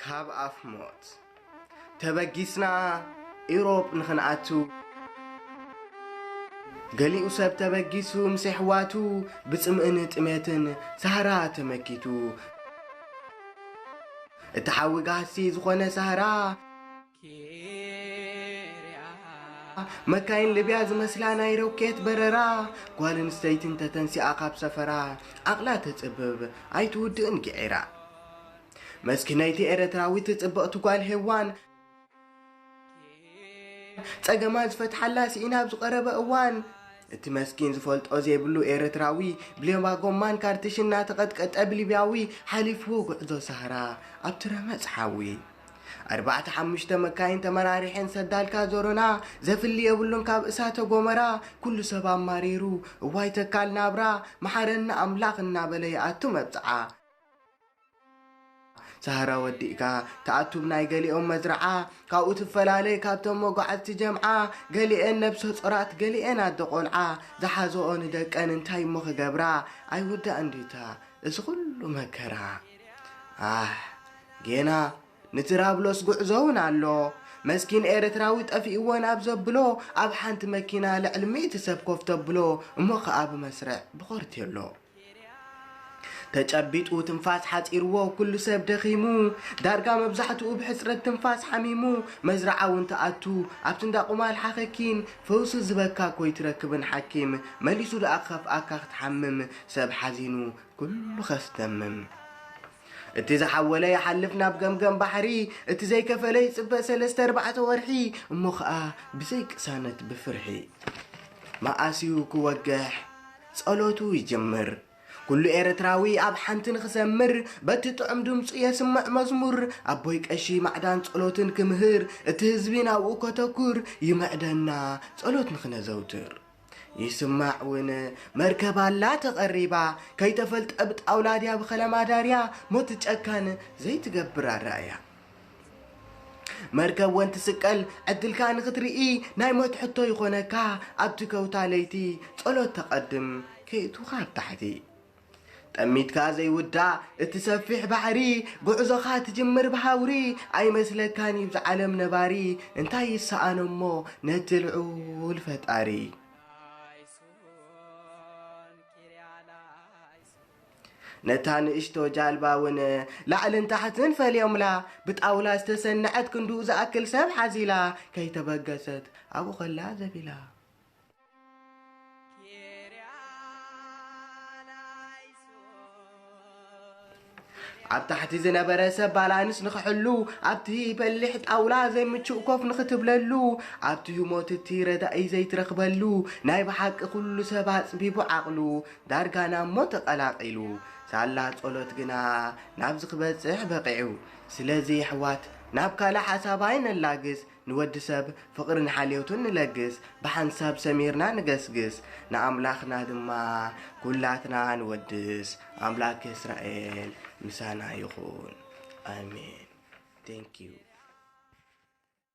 ካብ ኣፍ ሞት ተበጊስና ኢሮብ ንኽንኣቱ ገሊኡ ሰብ ተበጊሱ ምስ ኣሕዋቱ ብጽምእን ጥሜትን ሳህራ ተመኪቱ እቲ ሓዊ ጋህሲ ዝኾነ ሳህራ መካይን ልብያ ዝመስላ ናይ ሮኬት በረራ ጓል ኣንስተይቲ እንተተንሲኣ ካብ ሰፈራ ዓቕላ ተጽብብ ኣይትውድእን ግዒራ መስኪነይቲ ኤረትራዊት ጽብቕቲ ጓል ሄዋን ጸገማ ዝፈትሓላ ስኢና ኣብ ዝቐረበ እዋን እቲ መስኪን ዝፈልጦ ዘይብሉ ኤረትራዊ ብሌባ ጎማን ካርትሽን እናተቐጥቀጠ ብሊብያዊ ሓሊፍዎ ጉዕዞ ሳህራ ኣብቲ ረመጽ ሓዊ ኣርባዕተ ሓሙሽተ መካይን ተመራሪሐን ሰዳልካ ዞሮና ዘፍሊ የብሉን ካብ እሳተ ጎመራ ኩሉ ሰብ ኣማሪሩ እዋይ ተካል ናብራ መሓረና ኣምላኽ እናበለ ይኣቱ መብጽዓ ሳህራ ወዲእካ ትኣቱብ ናይ ገሊኦም መዝርዓ ካብኡ ትፈላለይ ካብቶም መጓዓዝቲ ጀምዓ ገሊኤን ነብሰ ጾራት ገሊኤን ኣደ ቆልዓ ዝሓዘኦ ንደቀን እንታይ እሞ ክገብራ ኣይውዳእን ዲታ እዚ ኹሉ መከራ ኣሕ ጌና ንትራብሎስ ጉዕዞ ውን ኣሎ መስኪን ኤረትራዊ ጠፊእወን ኣብ ዘብሎ ኣብ ሓንቲ መኪና ልዕሊ ሚእቲ ሰብ ኮፍ ተብሎ እሞ ክኣ ብመስርዕ ብኾርቴሎ ተጨቢጡ ትንፋስ ሓጺርዎ ኩሉ ሰብ ደኺሙ ዳርጋ መብዛሕትኡ ብሕጽረት ትንፋስ ሓሚሙ መዝርዓ ውን ትኣቱ ኣብቲ እንዳ ቁማል ሓኸኪን ፈውሲ ዝህበካ ኮይትረክብን ሓኪም መሊሱ ድኣ ክኸፍኣካ ክትሓምም ሰብ ሓዚኑ ኩሉ ከስተምም እቲ ዝሓወለ ይሓልፍ ናብ ገምገም ባሕሪ እቲ ዘይከፈለ ይጽበ ሰለስተ ኣርባዕተ ወርሒ እሞ ኸኣ ብዘይ ቅሳነት ብፍርሒ መኣስዩ ክወግሕ ጸሎቱ ይጅምር ኩሉ ኤርትራዊ ኣብ ሓንቲ ንኽሰምር በቲ ጥዑም ድምጹ የስምዕ መዝሙር ኣቦይ ቀሺ ማዕዳን ጸሎትን ክምህር እቲ ህዝቢ ናብኡ ከተኩር ይምዕደና ጸሎት ንኽነዘውትር ይስማዕ ውን መርከብ ኣላ ተቐሪባ ከይተፈልጠ ብጣውላ ድያ ብኸላም ኣዳርያ ሞት ጨካን ዘይትገብር ኣረኣያ መርከብ ወን ትስቀል ዕድልካ ንኽትርኢ ናይ ሞት ሕቶ ይኾነካ ኣብቲ ከውታ ለይቲ ጸሎት ተቐድም ከይእቱኻ ኣብ ታሕቲ ጠሚትካ ዘይውዳእ እቲ ሰፊሕ ባሕሪ ጉዕዞኻ ትጅምር ብሃውሪ ኣይመስለካን ይብዝ ዓለም ነባሪ እንታይ ይሰኣኖሞ ነቲ ልዑል ፈጣሪ ነታ ንእሽቶ ጃልባ እውን ላዕልን ታሕትን ፈልዮምላ ብጣውላ ዝተሰነዐት ክንድኡ ዝኣክል ሰብ ሓዚላ ከይተበገሰት ኣብኡ ከላ ዘቢላ ኣብ ታሕቲ ዝነበረ ሰብ ባላንስ ንክሕሉ ኣብቲ በሊሕ ጣውላ ዘይምቹእ ኮፍ ንክትብለሉ ኣብቲ ህሞት እቲ ረዳኢ ዘይትረኽበሉ ናይ ብሓቂ ኩሉ ሰብ ኣፅቢቡ ዓቕሉ ዳርጋ ናብ ሞት ተቐላቒሉ ሳላ ጸሎት ግና ናብዚ ክበጽሕ በቒዑ ስለዚ ኣሕዋት ናብ ካልእ ሓሳብ ኣይነላግስ ንወዲ ሰብ ፍቕርን ሓልዮትን ንለግስ፣ ብሓንሳብ ሰሚርና ንገስግስ፣ ንኣምላኽና ድማ ኵላትና ንወድስ። ኣምላክ እስራኤል ምሳና ይኹን። ኣሜን! Thank you!